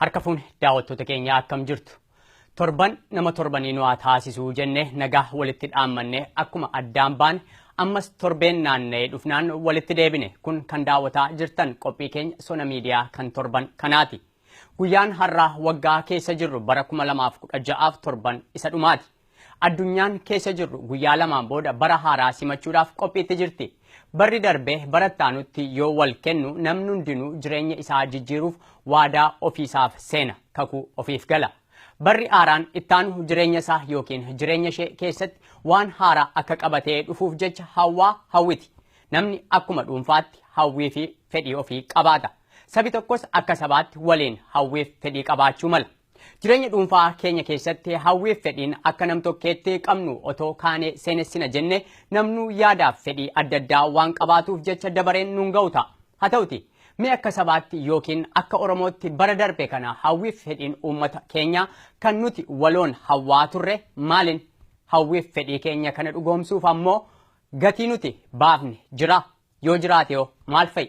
Harka fuune daawwattoota keenya akkam jirtu? Torban nama torbanii nu haa taasisuu jenne nagaa walitti dhaammanne akkuma addaan baane ammas torbeen naanna'ee dhufnaan walitti deebine kun kan daawwataa jirtan qophii keenya sona miidiyaa kan torban kanaati. Guyyaan har'aa waggaa keessa jirru bara 2016f torban isa dhumaati. Addunyaan keessa jirru guyyaa lamaan booda bara haaraa simachuudhaaf qophiitti jirti. Barri darbe bara itti aanutti yoo wal kennu namni hundinuu jireenya isaa jijjiiruuf waadaa ofiisaaf seena, kakuu ofiif gala. Barri haaraan itti aanu jireenya isaa yookiin jireenya ishee keessatti waan haaraa akka qabatee dhufuuf jecha hawwaa hawwiti. Namni akkuma dhuunfaatti hawwii fi fedhii ofii qabaata. Sabi tokkos akka sabaatti waliin hawwiif fedhii qabaachuu mala. Jireenya dhuunfaa keenya keessatti hawwiif fedhiin akka nam tokkeetti qabnu otoo kaanee seenessina jenne namnuu yaadaaf fedhii adda addaa waan qabaatuuf jecha dabareen nun ga'u ta'a. Haa ta'uti mee akka sabaatti yookiin akka Oromootti bara darbe kana hawwiif fedhiin uummata keenyaa kan nuti waloon hawwaa turre maalin? Hawwiif fedhii keenya kana dhugoomsuuf ammoo gatii nuti baafne jira yoo jiraate hoo maal fa'i?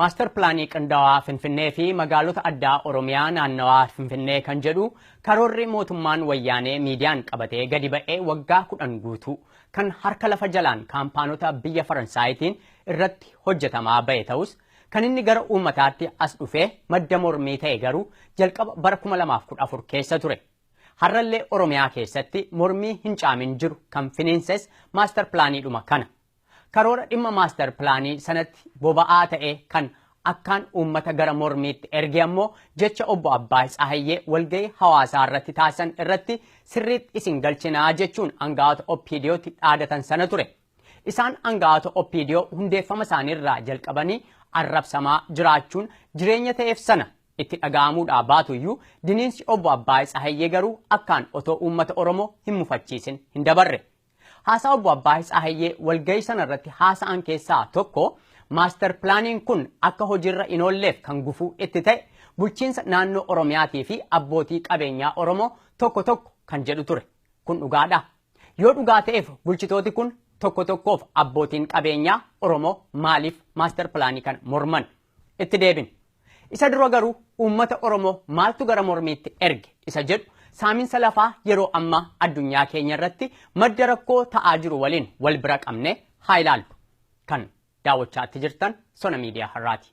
Maastar pilaanii qindaawaa Finfinnee fi magaalota addaa Oromiyaa naannawaa Finfinnee kan jedhu karoorri mootummaan wayyaanee miidiyaan qabatee gadi ba'ee waggaa kudhan guutuu kan harka lafa jalaan kaampaanota biyya Faransaayitiin irratti hojjetamaa ba'e ta'us Kan inni gara uummataatti as dhufee madda mormii ta'e garuu jalqaba bara 2014 keessa ture. Har'allee Oromiyaa keessatti mormii hin caamin jiru kan finiinses maastar pilaaniidhuma kana. Karoora dhimma maastar pilaanii sanatti boba'aa ta'ee kan akkaan uummata gara mormiitti erge ammoo jecha obbo Abbaay Tsahayyee walgahii hawaasaa irratti taasisan irratti sirriitti isin galchinaa jechuun aanga'oota OPDOtti dhaadatan sana ture. Isaan aanga'aata OPDO hundeeffama isaanii irraa jalqabanii arrabsamaa jiraachuun jireenya ta'eef sana itti dhaga'amuudhaa baatu iyyuu diniinsi Obbo Abbaay Tsahayyee garuu akkaan otoo uummata Oromoo hin mufachiisin hin dabarre. Haasaa Obbo Abbaay Tsahayyee walgahii sana irratti haasa'an keessaa tokko maaster pilaaniin kun akka hojiirra hin oolleef kan gufuu itti ta'e bulchiinsa naannoo Oromiyaatii fi abbootii qabeenyaa Oromoo tokko tokko kan jedhu ture. Kun dhugaadhaa? Yoo dhugaa ta'eef bulchitooti kun tokko tokkoof abbootiin qabeenyaa Oromoo maaliif maaster pilaanii kana morman? Itti deebin. Isa dura garuu uummata Oromoo maaltu gara mormiitti erge isa jedhu saaminsa lafaa yeroo ammaa addunyaa keenya irratti madda rakkoo ta'aa jiru waliin wal bira qabnee haa ilaallu. Kan daawwachaatti jirtan sona miidiyaa har'aati.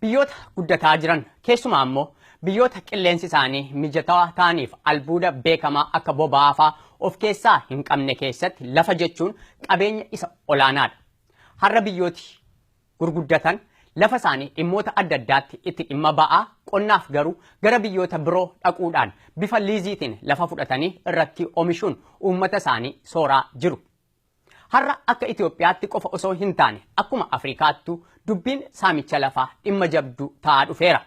Biyyoota guddataa jiran, keessumaa ammoo biyyoota qilleensi isaanii mijatawaa ta'aniif albuuda beekamaa akka boba'aa fa'aa of keessaa hin qabne keessatti lafa jechuun qabeenya isa olaanaadha. Har'a biyyooti gurguddatan lafa isaanii dhimmoota adda addaatti itti dhimma ba'aa, qonnaaf garuu gara biyyoota biroo dhaquudhaan bifa liiziitiin lafa fudhatanii irratti omishuun uummata isaanii sooraa jiru. Har'a akka Itoophiyaatti qofa osoo hin taane akkuma Afrikaattuu dubbiin saamicha lafaa dhimma jabduu ta'aa dhufeera.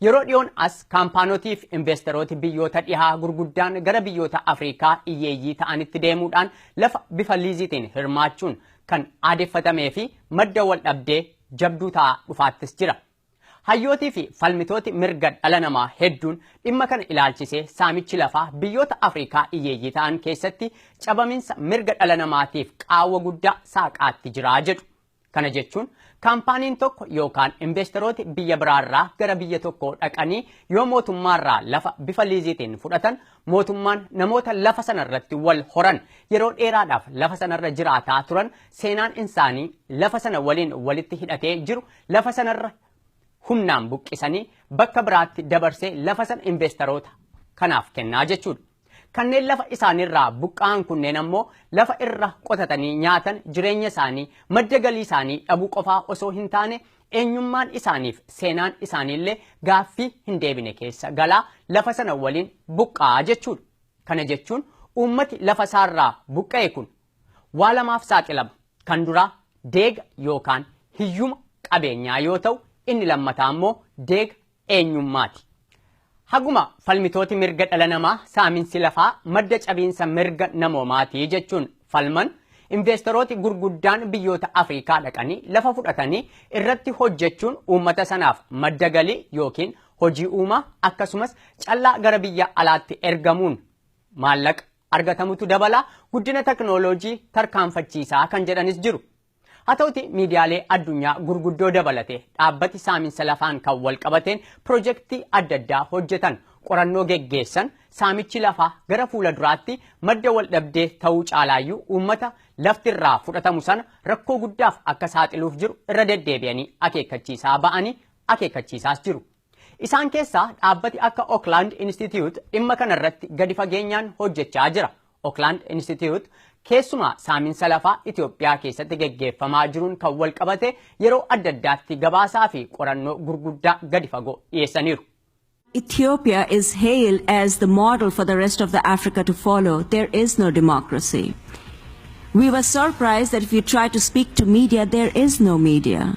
Yeroo dhiyoon as kaampaanotiif investerooti biyyoota dhihaa gurguddaan gara biyyoota Afrikaa iyyeeyyii ta'anitti deemuudhaan lafa bifa liiziitiin hirmaachuun kan aadeffatamee fi madda waldhabdee jabduu ta'aa dhufaattis jira. Hayyootii fi falmitooti mirga dhala namaa hedduun dhimma kana ilaalchisee saamichi lafaa biyyoota Afriikaa iyyeeyyii ta'an keessatti cabaminsa mirga dhala namaatiif qaawwa guddaa saaqaatti jira jedhu. Kana jechuun kaampaaniin tokko yookaan investerooti biyya biraarraa gara biyya tokkoo dhaqanii yoo mootummaarraa lafa bifa liiziitiin fudhatan mootummaan namoota lafa sanarratti wal horan yeroo dheeraadhaaf lafa sanarra jiraataa turan seenaan isaanii lafa sana waliin walitti hidhatee jiru Lafa sanarra humnaan buqqisanii bakka biraatti dabarsee lafa sana investeroota kanaaf kennaa jechuudha. Kanneen lafa isaaniirraa buqqa'an kunneen ammoo lafa irra qotatanii nyaatan jireenya isaanii madda galii isaanii dhabuu qofaa osoo hin taane eenyummaan isaaniif seenaan isaaniillee gaaffii hin deebine keessa galaa lafa sana waliin buqqa'aa jechuudha. Kana jechuun uummati lafa isaarraa buqqa'e kun waa lamaaf saaxilama. Kan duraa deega yookaan hiyyuma qabeenyaa yoo ta'u, inni lammataa immoo deega eenyummaati. Haguma falmitooti mirga dhala namaa saaminsi lafaa madda cabiinsa mirga namoomaati jechuun falman investerooti gurguddaan biyyoota Afrikaa dhaqanii lafa fudhatanii irratti hojjechuun uummata sanaaf madda galii yookiin hojii uumaa akkasumas callaa gara biyya alaatti ergamuun maallaqa argatamutu dabala, guddina teknooloojii tarkaanfachiisaa kan jedhanis jiru. Haa ta'uti miidiyaalee addunyaa gurguddoo dabalatee dhaabbati saaminsa lafaan kan wal qabateen pirojektii adda addaa hojjetan, qorannoo geggeessan saamichi lafaa gara fuula duraatti madda wal dhabdee ta'uu caalaayyuu uummata lafti irraa fudhatamu sana rakkoo guddaaf akka saaxiluuf jiru irra deddeebi'anii akeekkachiisaa ba'anii akeekkachiisaas jiru. Isaan keessaa dhaabbati akka Oakland Institute dhimma kana irratti gadi fageenyaan hojjechaa jira. Oakland Institute keessumaa saaminsa lafaa Itoophiyaa keessatti geggeeffamaa jiruun kan wal qabate yeroo adda addaatti gabaasaa fi qorannoo gurguddaa gadi fagoo dhiyeessaniiru. Ethiopia is hailed as the model for the rest of the Africa to follow. There is no democracy. We were surprised that if you try to speak to media, there is no media.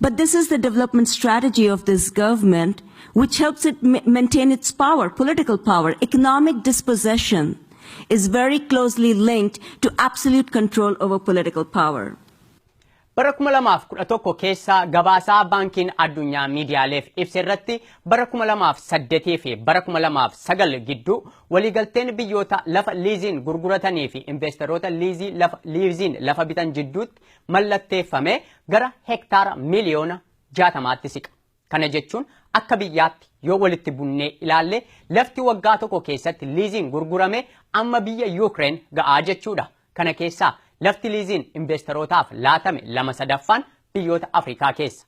But this is the development strategy of this government, which helps it ma- maintain its power, political power. Economic dispossession is very closely linked to absolute control over political power. Bara 2011 keessa gabaasaa baankiin addunyaa miidiyaaleef ibse irratti bara 2008 fi bara 2009 gidduu waliigalteen biyyoota lafa liiziin gurguratanii fi investeroota liizii lafa, liiziin lafa bitan jidduutti mallatteeffame gara hektaara miliyoona 60tti siqa. Kana jechuun akka biyyaatti yoo walitti bunnee ilaalle lafti waggaa tokko keessatti liiziin gurgurame amma biyya Yuukireen ga'aa jechuudha. Kana keessaa lafti liiziin investeerootaaf laatame lama sadaffaan biyyoota Afrikaa keessa.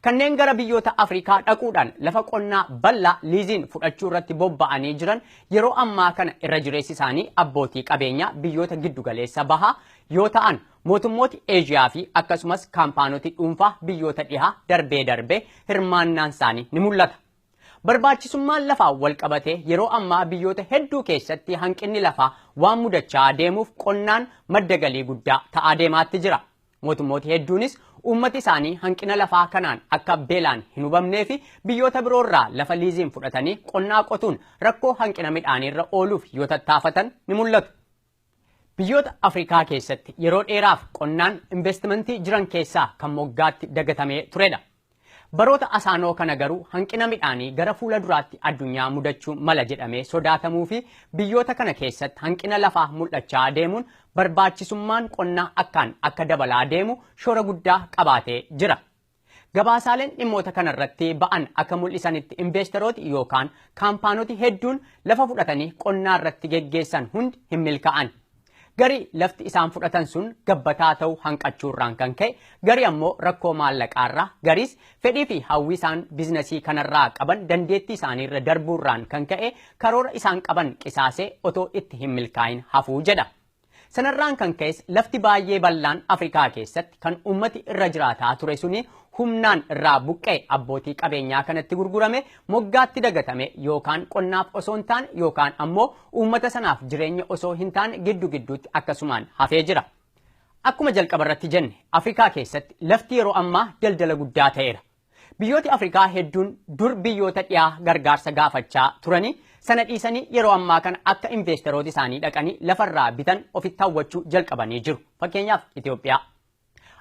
Kanneen gara biyyoota Afrikaa dhaquudhaan lafa qonnaa bal'aa liiziin fudhachuu irratti bobba'anii jiran yeroo ammaa kana irra jireessi isaanii abbootii qabeenyaa biyyoota giddu galeessa bahaa yoo ta'an mootummooti Eeshiyaa fi akkasumas kaampaanoti dhuunfaa biyyoota dhihaa darbee darbee hirmaannaan isaanii ni mul'ata. Barbaachisummaan lafaa walqabatee yeroo ammaa biyyoota hedduu keessatti hanqinni lafaa waan mudachaa deemuuf qonnaan madda galii guddaa ta'aa deemaatti jira. Mootummooti hedduunis uummati isaanii hanqina lafaa kanaan akka beelaan hin hubamnee fi biyyoota biroo irraa lafa liiziin fudhatanii qonnaa qotuun rakkoo hanqina midhaanii irra ooluuf yoo tattaafatan ni mul'atu. Biyyoota Afrikaa keessatti yeroo dheeraaf qonnaan investimentii jiran keessaa kan moggaatti dagatamee turedha. Baroota asaanoo kana garuu hanqina midhaanii gara fuula duraatti addunyaa mudachuu mala jedhamee sodaatamuu fi biyyoota kana keessatti hanqina lafaa mul'achaa deemuun barbaachisummaan qonnaa akkaan akka dabalaa deemu shoora guddaa qabaatee jira. Gabaasaaleen dhimmoota kana irratti ba'an akka mul'isanitti investerooti yookaan kaampaanoti hedduun lafa fudhatanii qonnaa irratti geggeessan hundi hin milkaa'an. Garii lafti isaan fudhatan sun gabbataa ta'u hanqachuu irraan kan ka'e, garii ammoo rakkoo maallaqaa irraa, gariis fedhii fi hawwii isaan biznasii kanarraa qaban dandeettii isaanii irra darbuu irraan kan ka'e karoora isaan qaban qisaasee otoo itti hin milkaa'in hafu jedha. Sanarraan kan ka'es lafti baay'ee bal'aan Afrikaa keessatti kan uummati irra jiraataa ture suni humnaan irraa buqqa'e abbootii qabeenyaa kanatti gurgurame moggaatti dagatame yookaan qonnaaf osoo hin taane yookaan ammoo uummata sanaaf jireenya osoo hin taane giddu gidduutti akkasumaan hafee jira. Akkuma jalqaba irratti jenne Afrikaa keessatti lafti yeroo ammaa daldala guddaa ta'eera. Biyyooti Afrikaa hedduun dur biyyoota dhiyaa gargaarsa gaafachaa turanii sana dhiisanii yeroo ammaa kana akka investerooti isaanii dhaqanii lafarraa bitan ofitti hawwachuu jalqabanii jiru. Fakkeenyaaf Itoophiyaa.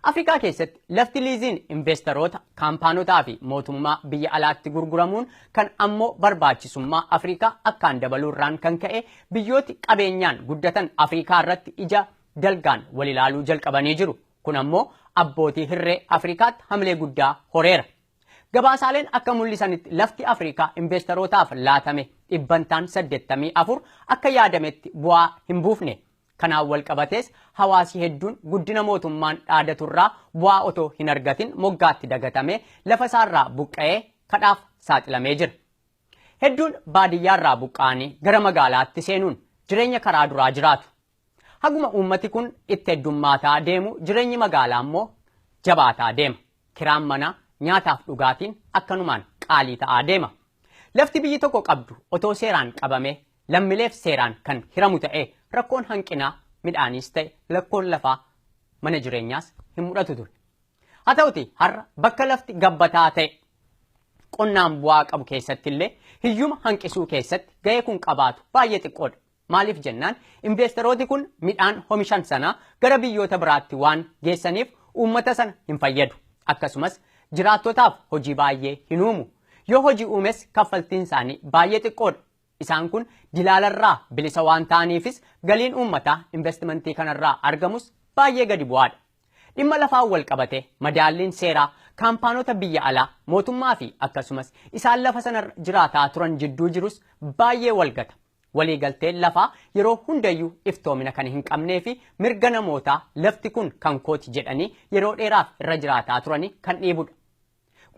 Afrikaa keessatti lafti liiziin investeroota, kaampaanotaa fi mootummaa biyya alaatti gurguramuun kan ammoo barbaachisummaa Afrikaa akkaan dabaluurraan kan ka'e biyyooti qabeenyaan guddatan Afrikaa irratti ija dalgaan wal ilaaluu jalqabanii jiru. Kun ammoo abbootii hirree Afrikaatti hamilee guddaa horeera. Gabaasaaleen akka mul'isanitti lafti Afrikaa investerootaaf laatame dhibbantaan 84 akka yaadametti bu'aa hin buufne. Kanaan walqabatees hawaasi hedduun guddina mootummaan dhaadaturraa bu'aa otoo hinargatin moggaatti dagatamee lafasaarraa buqqa'ee kadhaaf saaxilamee jira. Hedduun baadiyyaarraa buqqa'anii gara magaalaatti seenuun jireenya karaa duraa jiraatu. Haguma uummati kun itti heddummaataa deemu jireenyi magaalaa immoo jabaataa deema. Kiraan manaa, nyaataaf dhugaatiin akkanumaan qaalii ta'aa deema. Lafti biyyi tokko qabdu otoo seeraan qabamee lammileef seeraan kan hiramu ta'ee rakkoon hanqinaa midhaaniis ta'e lakkoon lafaa mana jireenyaas hin mudhatu ture. Haa ta'uti har'a bakka lafti gabbataa ta'e qonnaan bu'aa qabu keessattillee hiyyuma hanqisuu keessatti ga'ee kun qabaatu baay'ee xiqqoodha. Maaliif jennaan inveesterooti kun midhaan homishan sana gara biyyoota biraatti waan geessaniif uummata sana hin fayyadu. Akkasumas jiraattotaaf hojii baay'ee hin uumu. Yoo hojii uumes kaffaltiin isaanii baay'ee xiqqoodha. Isaan kun dilaalarraa bilisa waan ta'aniifis galiin uummataa inveestimantii kanarraa argamus baay'ee gadi bu'aadha. Dhimma lafaan wal qabate madaalliin seeraa kaampaanota biyya alaa mootummaa fi akkasumas isaan lafa sanarra jiraataa turan jidduu jirus baay'ee wal gata. Waliigalteen lafaa yeroo hundayyuu iftoomina kan hin qabnee fi mirga namootaa lafti kun kan kooti jedhanii yeroo dheeraaf irra jiraataa turanii kan dhiibudha.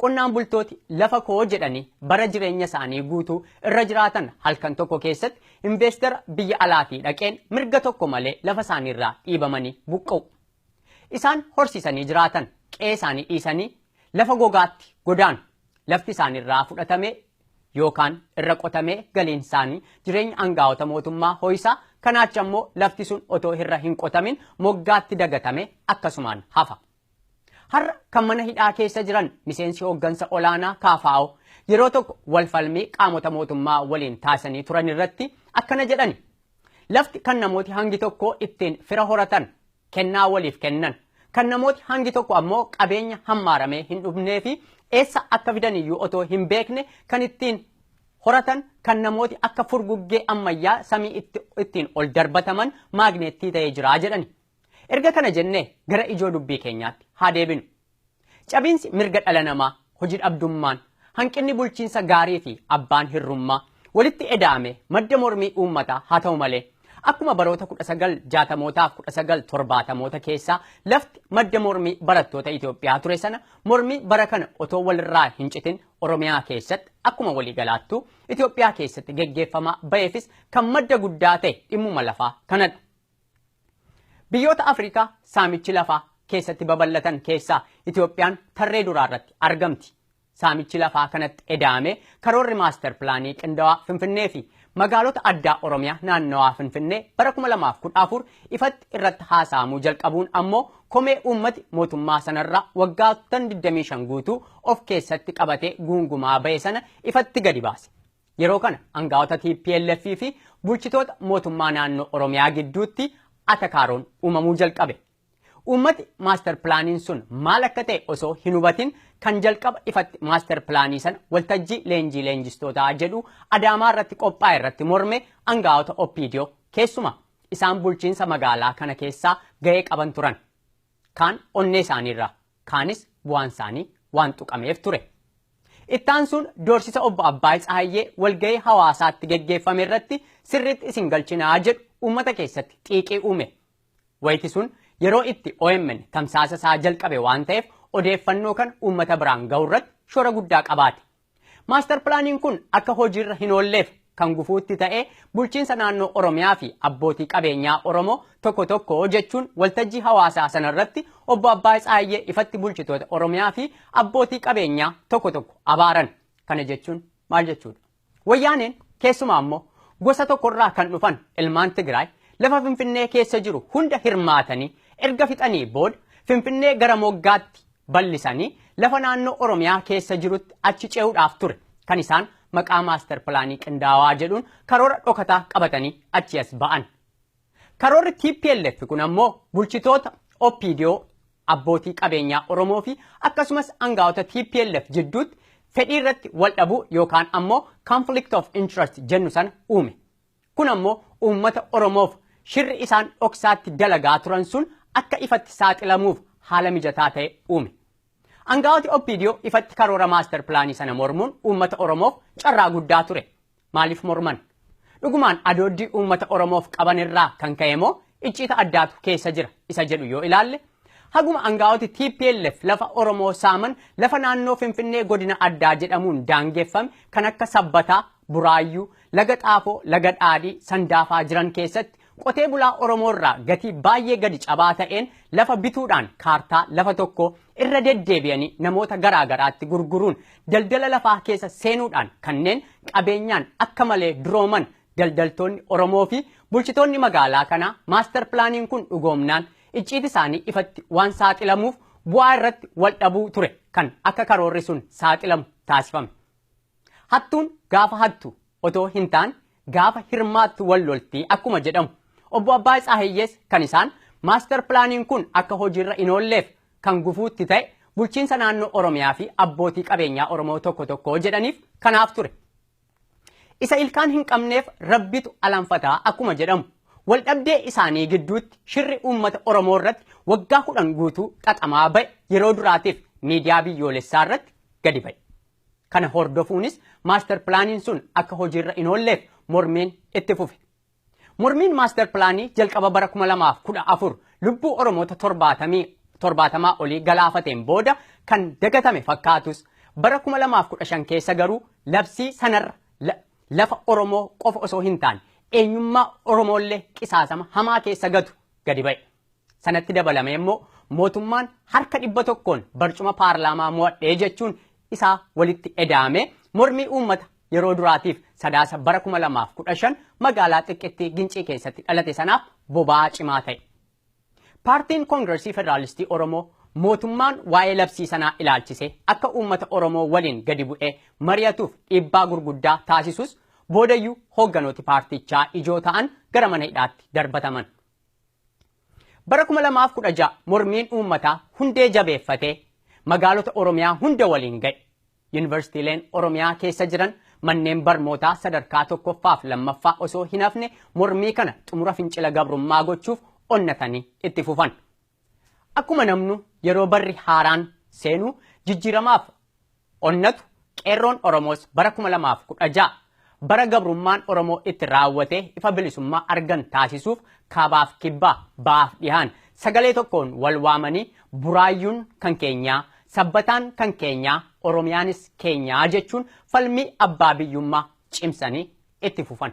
Qonnaan bultooti lafa koo jedhanii bara jireenya isaanii guutuu irra jiraatan halkan tokko keessatti inveestara biyya alaatii dhaqeen mirga tokko malee lafa isaaniirraa dhiibamanii buqqa'u. Isaan horsiisanii jiraatan qe'ee isaanii dhiisanii lafa gogaatti godaanu. Lafti isaaniirraa fudhatamee yookaan irra qotamee galiin isaanii jireenya angaa'ota mootummaa ho'isaa kanaacha immoo lafti sun otoo irra hin qotamin moggaatti dagatame akkasumaan hafa. Har'a kan mana hidhaa keessa jiran miseensi hooggansa olaanaa kaafaa'oo yeroo tokko wal falmii qaamota mootummaa waliin taasanii turan irratti akkana jedhani. Lafti kan namooti hangi tokko ittiin fira horatan kennaa waliif kennan. Kan namooti hangi tokko ammoo qabeenya hammaaramee hin dhufnee fi eessa akka fidan iyyuu otoo hin beekne kan ittiin horatan kan namooti akka furguggee ammayyaa samii itti- ittiin ol darbataman maagneettii ta'ee jira jedhani. Erga kana jennee gara ijoo dubbii keenyaatti haa deebinu. Cabiinsi mirga dhala namaa, hojidhabdummaan, hanqinni bulchiinsa gaarii fi abbaan hirrummaa walitti eda'ame madda mormii uummataa haa ta'u malee, akkuma baroota 1960mootaa fi 1970moota keessaa lafti madda mormii barattoota Itoophiyaa ture sana mormii bara kana otoo walirraa hin citin Oromiyaa keessatti akkuma waliigalaattuu Itoophiyaa keessatti geggeeffamaa ba'eefis kan madda guddaa ta'e dhimmuma lafaa kanadha. Biyyoota Afrikaa saamichi lafaa keessatti babal'atan keessaa Itoophiyaan tarree duraa irratti argamti. Saamichi lafaa kanatti eda'amee karoorri maaster pilaanii qindawaa Finfinnee fi magaalota addaa Oromiyaa naannawaa Finfinnee bara 2014 ifatti irratti haasa'amuu jalqabuun ammoo komee uummati mootummaa sanarraa waggaattan 25 guutuu of keessatti qabatee guungumaa ba'e sana ifatti gadi baase. Yeroo kana angaa'ota tplf fi bulchitoota mootummaa naannoo Oromiyaa gidduutti atakaaroon uumamuu jalqabe. Uummati maaster pilaaniin sun maal akka ta'e osoo hin hubatin kan jalqaba ifatti maaster pilaanii sana waltajjii leenjii leenjistootaa jedhu Adaamaa irratti qophaa'e irratti morme angaa'ota OPDO keessuma isaan bulchiinsa magaalaa kana keessaa ga'ee qaban turan. kaan onnee isaanii irraa, kaanis bu'aan isaanii waan tuqameef ture. Itti aansuun doorsisa obbo Abbaay Tsahayyee walgahii hawaasaatti geggeeffame irratti sirriitti isin galchinaa jedhu uummata keessatti xiiqii uume. Wayiti sun yeroo itti OMN tamsaasa isaa jalqabe waan ta'eef odeeffannoo kana uummata biraan gahu irratti shoora guddaa qabaate. Maastar pilaaniin kun akka hojiirra hin oolleef kan gufuutti ta'e bulchiinsa naannoo Oromiyaa fi abbootii qabeenyaa Oromoo tokko tokko jechuun waltajjii hawaasaa sanarratti obbo Abbaay Tsaayyee ifatti bulchitoota Oromiyaa fi abbootii qabeenyaa tokko tokko abaaran. Kana jechuun maal jechuudha? Wayyaaneen keessumaa immoo gosa tokkorraa kan dhufan ilmaan Tigraay lafa Finfinnee keessa jiru hunda hirmaatanii erga fixanii booda Finfinnee gara moggaatti bal'isanii lafa naannoo Oromiyaa keessa jirutti achi ce'uudhaaf ture kan isaan maqaa maaster pilaanii qindaawaa jedhuun karoora dhokataa qabatanii achi as ba'an. Karoorri TPLF kun ammoo bulchitoota OPDO abbootii qabeenyaa Oromoo fi akkasumas angaa'ota TPLF jidduutti fedhii irratti wal dhabuu yookaan ammoo conflict of interest jennu sana uume. Kun ammoo uummata Oromoof shirri isaan dhoksaatti dalagaa turan sun akka ifatti saaxilamuuf haala mijataa ta'e uume. Angaa'oti OPDO ifatti karoora maaster pilaanii sana mormuun uummata Oromoof carraa guddaa ture. Maaliif morman? Dhugumaan adooddii uummata Oromoof qaban irraa kan ka'e moo icciita addaatu keessa jira isa jedhu yoo ilaalle haguma angaa'oti TPLF lafa Oromoo saaman lafa naannoo Finfinnee godina addaa jedhamuun daangeffame kan akka sabbataa Buraayyuu, Laga Xaafoo, Laga Dhaadhii, Sandaafaa jiran keessatti qotee bulaa Oromoo irraa gatii baay'ee gadi cabaa ta'een lafa bituudhaan kaartaa lafa tokkoo irra deddeebi'anii namoota garaa garaatti gurguruun daldala lafaa keessa seenuudhaan kanneen qabeenyaan akka malee durooman daldaltoonni Oromoo fi bulchitoonni magaalaa kanaa maastar pilaaniin kun dhugoomnaan icciiti isaanii ifatti waan saaxilamuuf bu'aa irratti wal dhabuu ture kan akka karoorri sun saaxilamu taasifame. Hattuun gaafa hattu otoo hintaan gaafa hirmaattu wal lolti akkuma jedhamu Obbo Abbaay Tsaahayyees kan isaan Maastar Pilaaniin kun akka hojiirra inoolleef kan gufuu itti ta'e bulchiinsa naannoo Oromiyaafi abbootii qabeenyaa Oromoo tokko tokko jedhaniif kanaaf ture. Isa ilkaan hinqabneef Rabbitu alanfata akkuma jedhamu waldhabdee isaanii gidduutti shirri uummata Oromoo irratti waggaa kudhan guutuu xaxamaa ba'e yeroo duraatiif miidiyaa biyyoolessaa irratti gadi ba'e. Kana hordofuunis maastar pilaaniin sun akka hojiirra hin oolleef mormiin itti fufe. Mormiin maastar pilaanii jalqaba bara 2014 lubbuu Oromoota 70 olii galaafateen booda kan dagatame fakkaatus bara 2015 keessa garuu labsii sanarra lafa Oromoo qofa osoo hin taane eenyummaa Oromoollee qisaasama hamaa keessa gatu gadi ba'e. Sanatti dabalamee immoo mootummaan harka dhibba tokkoon barcuma paarlaamaa mo'adhee jechuun isaa walitti edaamee mormii uummata yeroo duraatiif sadaasa bara 2015 magaalaa xiqqittii gincii keessatti dhalate sanaaf boba'aa cimaa ta'e. Paartiin Koongiresii Federaalistii Oromoo mootummaan waa'ee labsii sanaa ilaalchisee akka uummata Oromoo waliin gadi bu'ee mari'atuuf dhiibbaa gurguddaa taasisus boodayyuu hoogganooti paartichaa ijoo ta'an gara mana hidhaatti darbataman. Bara 2016 mormiin uummataa hundee jabeeffatee magaalota Oromiyaa hunda waliin ga'e. Yunivarsiitiileen Oromiyaa keessa jiran manneen barmootaa sadarkaa tokkoffaaf lammaffaa osoo hin hafne mormii kana xumura fincila gabrummaa gochuuf onnatanii itti fufan. Akkuma namnu yeroo barri haaraan seenu jijjiiramaaf Onnatu Qeerroon Oromoos bara 2016 bara gabrummaan Oromoo itti raawwatee ifa bilisummaa argan taasisuuf kaabaaf kibbaa, bahaaf dhihaan sagalee tokkoon wal waamanii Buraayyuun kan keenyaa, Sabbataan kan keenyaa, Oromiyaanis keenyaa jechuun falmii abbaa biyyummaa cimsanii itti fufan.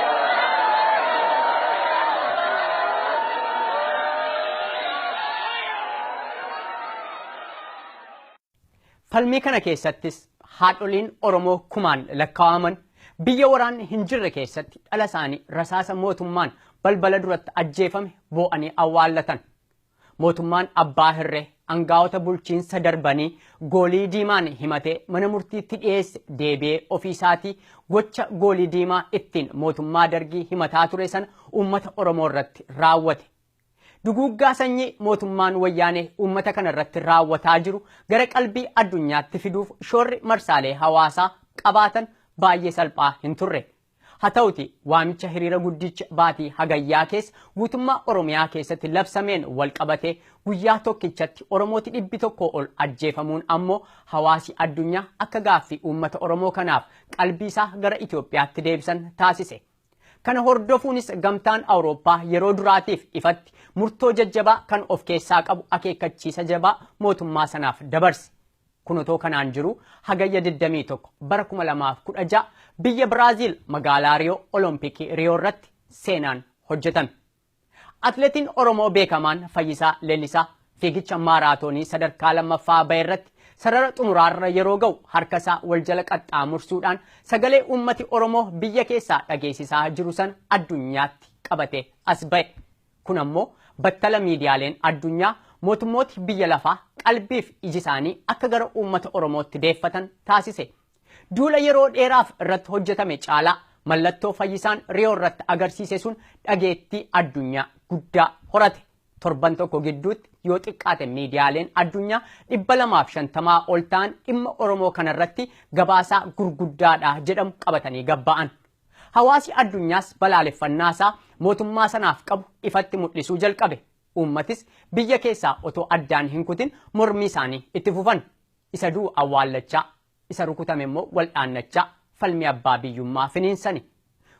Falmii kana keessattis haadholiin Oromoo kumaan lakkaa'aman biyya waraanni hin jirre keessatti dhala isaanii rasaasa mootummaan balbala duratti ajjeefame boo'anii awwaallatan. Mootummaan abbaa hirree angaa'ota bulchiinsa darbanii goolii diimaan himatee mana murtiitti dhiyeesse deebi'ee ofii isaatii gocha goolii diimaa ittiin mootummaa dargii himataa ture sana uummata Oromoo irratti raawwate. Duguuggaa sanyii mootummaan wayyaanee uummata kana irratti raawwataa jiru gara qalbii addunyaatti fiduuf shoorri marsaalee hawaasaa qabaatan baay'ee salphaa hin turre. Haa ta'uti waamicha hiriira guddicha baatii Hagayyaa keessa guutummaa Oromiyaa keessatti labsameen wal qabatee guyyaa tokkichatti Oromooti dhibbi tokkoo ol ajjeefamuun ammoo hawaasi addunyaa akka gaaffii uummata Oromoo kanaaf qalbiisaa gara Itoophiyaatti deebisan taasise. Kana hordofuunis Gamtaan Awurooppaa yeroo duraatiif ifatti murtoo jajjabaa kan of keessaa qabu akeekkachiisa jabaa mootummaa sanaaf dabarse. Kun otoo kanaan jiruu Hagayya 21 bara 2016 biyya Biraaziil magaalaa Riyoo Olompikii Riyoo irratti seenaan hojjetame. Atileetiin Oromoo beekamaan Fayyisaa Leellisaa fiigicha maaraatoonii sadarkaa lammaffaa ba'e irratti sarara xumuraarra yeroo ga'u harka isaa wal jala qaxxaamursuudhaan sagalee uummati Oromoo biyya keessaa dhageessisaa jiru sana addunyaatti qabatee as ba'e. Kun ammoo battala miidiyaaleen addunyaa mootummooti biyya lafaa qalbiif iji isaanii akka gara uummata Oromootti deeffatan taasise. Duula yeroo dheeraaf irratti hojjetame caalaa mallattoo Fayyisaan Riyoo irratti agarsiise sun dhageettii addunyaa guddaa horate. Torban tokko gidduutti yoo xiqqaate miidiyaaleen addunyaa 250 ol ta'an dhimma Oromoo kanarratti gabaasaa gurguddaadha jedhamu qabatanii gabba'an. Hawaasi addunyaas balaaleffannaa isaa mootummaa sanaaf qabu ifatti mul'isuu jalqabe. Uummatis biyya keessaa otoo addaan hin kutin mormii isaanii itti fufan. Isa du'u awwaallachaa, isa rukutame immoo wal'aannachaa falmii abbaa biyyummaa finiinsani.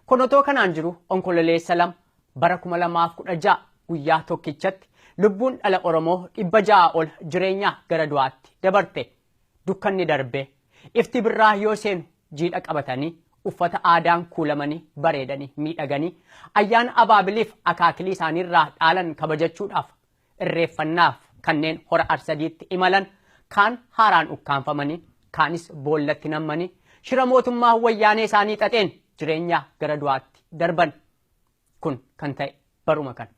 Kun otoo kanaan jiruu Onkololeessa 2 bara 2016 guyyaa tokkichatti lubbuun dhala Oromoo 600 ol jireenyaa gara du'aatti dabarte. Dukkanni darbee, ifti birraa yoo seenu jiidha qabatanii, uffata aadaan kuulamanii, bareedanii, miidhaganii, ayyaana abaabiliif akaakilii isaaniirraa dhaalan kabajachuudhaaf, irreeffannaaf kanneen Hora Arsadiitti imalan kaan haaraan ukkaamfamanii, kaanis boollatti nammanii, shira mootummaa Wayyaanee isaanii xaxeen jireenya gara du'aatti darban. Kun kan ta'e baruma kana.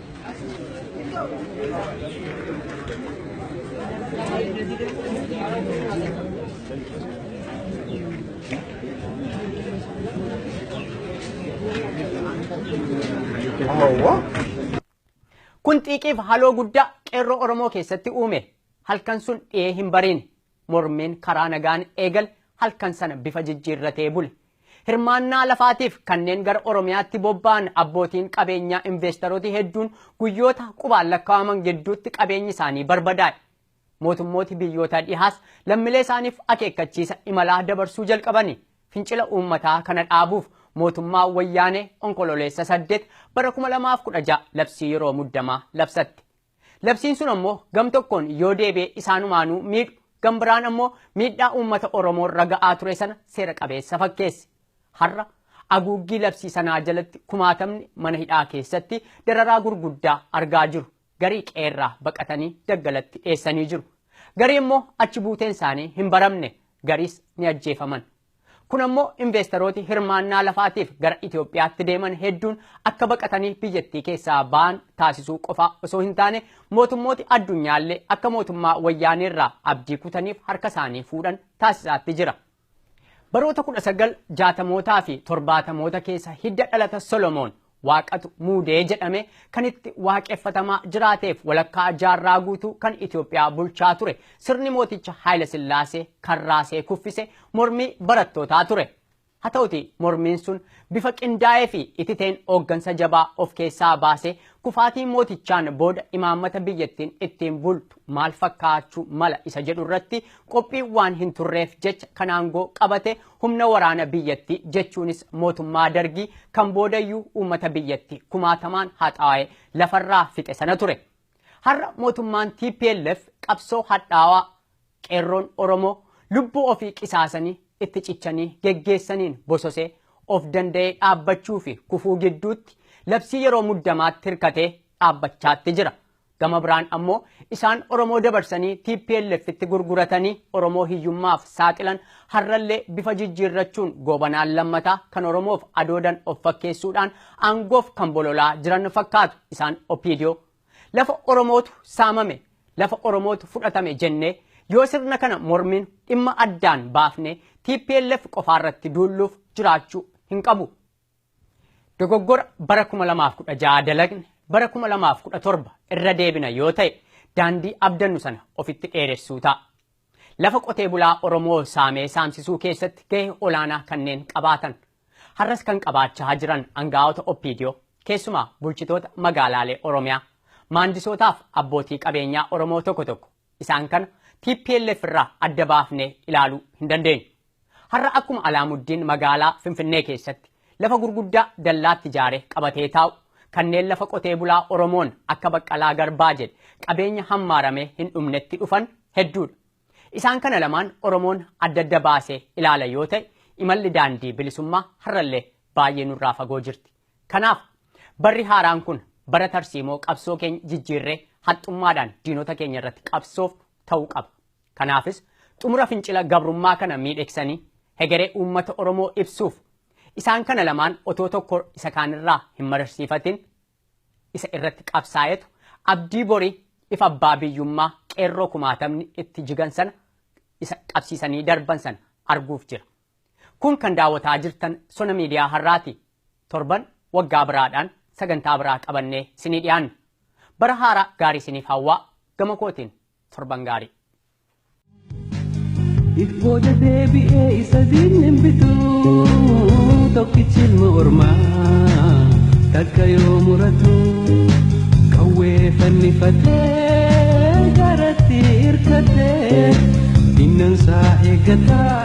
Kun xiiqiif haloo guddaa qeerroo Oromoo keessatti uume. Halkan sun dhiyee hin bariin. Mormiin karaa nagaan eegale halkan sana bifa jijjiirratee bule. Hirmaannaa lafaatiif kanneen gara Oromiyaatti bobba'an abbootiin qabeenyaa investerooti hedduun guyyoota qubaan lakkaa'aman gidduutti qabeenyi isaanii barbadaa'e. Mootummooti biyyoota dhihaas lammilee isaaniif akeekkachiisa imalaa dabarsuu jalqabani. Fincila uummataa kana dhaabuuf mootummaa Wayyaanee Onkololeessa 8 bara 2016 labsii yeroo muddamaa labsatte. Labsiin sun ammoo gam tokkoon yoo deebi'e isaanumaanuu miidhu, gam biraan ammoo miidhaa uummata Oromoo irra ga'aa ture sana seera qabeessa fakkeesse. Har'a aguuggii labsii sanaa jalatti kumaatamni mana hidhaa keessatti dararaa gurguddaa argaa jiru. Garii qe'eerraa baqatanii daggalatti dheessanii jiru. Garii immoo achi buuteen isaanii hin baramne. Gariis ni ajjeefaman. Kun ammoo inveestarooti hirmaannaa lafaatiif gara Itoophiyaatti deeman hedduun akka baqatanii biyyattii keessaa ba'an taasisuu qofaa osoo hin taane mootummooti addunyaallee akka mootummaa wayyaaneerraa abdii kutaniif harka isaanii fuudhan taasisaatti jira. Baroota 1960mootaa fi 70moota keessa hidda dhalata Solomoon Waaqatu muude jedhamee kan itti waaqeffatamaa jiraateef walakkaa jaarraa guutuu kan Itoophiyaa bulchaa ture sirni mooticha Haayila Sillaasee kan raasee kuffise mormii barattootaa ture. Haa ta'uti mormiin sun bifa qindaa'ee fi ititeen hooggansa jabaa of keessaa baasee kufaatii mootichaan booda imaammata biyyattiin ittiin bultu maal fakkaachuu mala isa jedhu irratti qophii waan hin turreef jecha kan aangoo qabate Humna waraana biyyatti jechuunis mootummaa Dargii kan boodayyuu uummata biyyatti kumaatamaan haxaa'e lafarraa fixe sana ture. Har'a mootummaan TPLF qabsoo hadhaawaa qeerroon Oromoo lubbuu ofii qisaasanii itti cichanii geggeessaniin bososee of danda'ee dhaabbachuu fi kufuu gidduutti labsii yeroo muddamaatti hirkatee dhaabbachaatti jira. Gama biraan ammoo isaan Oromoo dabarsanii TPLFtti gurguratanii Oromoo hiyyummaaf saaxilan har'allee bifa jijjiirrachuun Goobanaan Lammataa kan Oromoof adoodan of fakkeessuudhaan aangoof kan bololaa jiran fakkaatu isaan Opdo. Lafa Oromootu saamame, lafa Oromootu fudhatame jennee yoo sirna kana morminu dhimma addaan baafnee TPLF qofaarratti duulluuf jiraachuu hin qabu. Dogoggora bara 2016 dalagne bara 2017 irra deebina yoo ta'e daandii abdannu sana ofitti dheeressuu ta'a. Lafa qotee bulaa Oromoo saamee saamsisuu keessatti gahee olaanaa kanneen qabaatan har'as kan qabaachaa jiran angaa'ota Oppiidiyoo keessumaa bulchitoota magaalaalee Oromiyaa maandisootaaf abbootii qabeenyaa Oromoo tokko tokko Isaan kana tplf irraa adda baafnee ilaaluu hin dandeenyu. Har'a akkuma Alaamuddin magaalaa Finfinnee keessatti lafa gurguddaa dallaatti ijaaree qabatee taa'u, kanneen lafa qotee bulaa Oromoon akka Baqqalaa Garbaa jedhe qabeenya hammaaramee hin dhumnetti dhufan hedduudha. Isaan kana lamaan Oromoon adda adda baasee ilaala yoo ta'e imalli daandii bilisummaa har'allee baay'ee nurraa fagoo jirti. Kanaaf barri haaraan kun bara tarsiimoo qabsoo keenya jijjiirree haxxummaadhaan diinota keenya irratti qabsoofnu ta'uu qaba. Kanaafis xumura fincila gabrummaa kana miidheksanii hegeree uummata Oromoo ibsuuf isaan kana lamaan otoo tokko isa kaanirraa hin mararsiifatin isa irratti qabsaa'etu abdii borii ifa abbaa biyyummaa qeerroo kumaatamni itti jigan sana isa qabsiisanii darban sana arguuf jira. Kun kan daawwataa jirtan Sona Miidiyaa har'aati. Torban waggaa biraadhaan sagantaa biraa qabannee isinii dhiyaanna. Bara haaraa gaarii isiniif hawwaa gama kootiin torban gaarii. If booda deebi'ee isa diinni hin bitu tokkichi ilma ormaa takka yoo muratu qawwee fannifatee garatti hirkatee diinnan isaa eeggataa.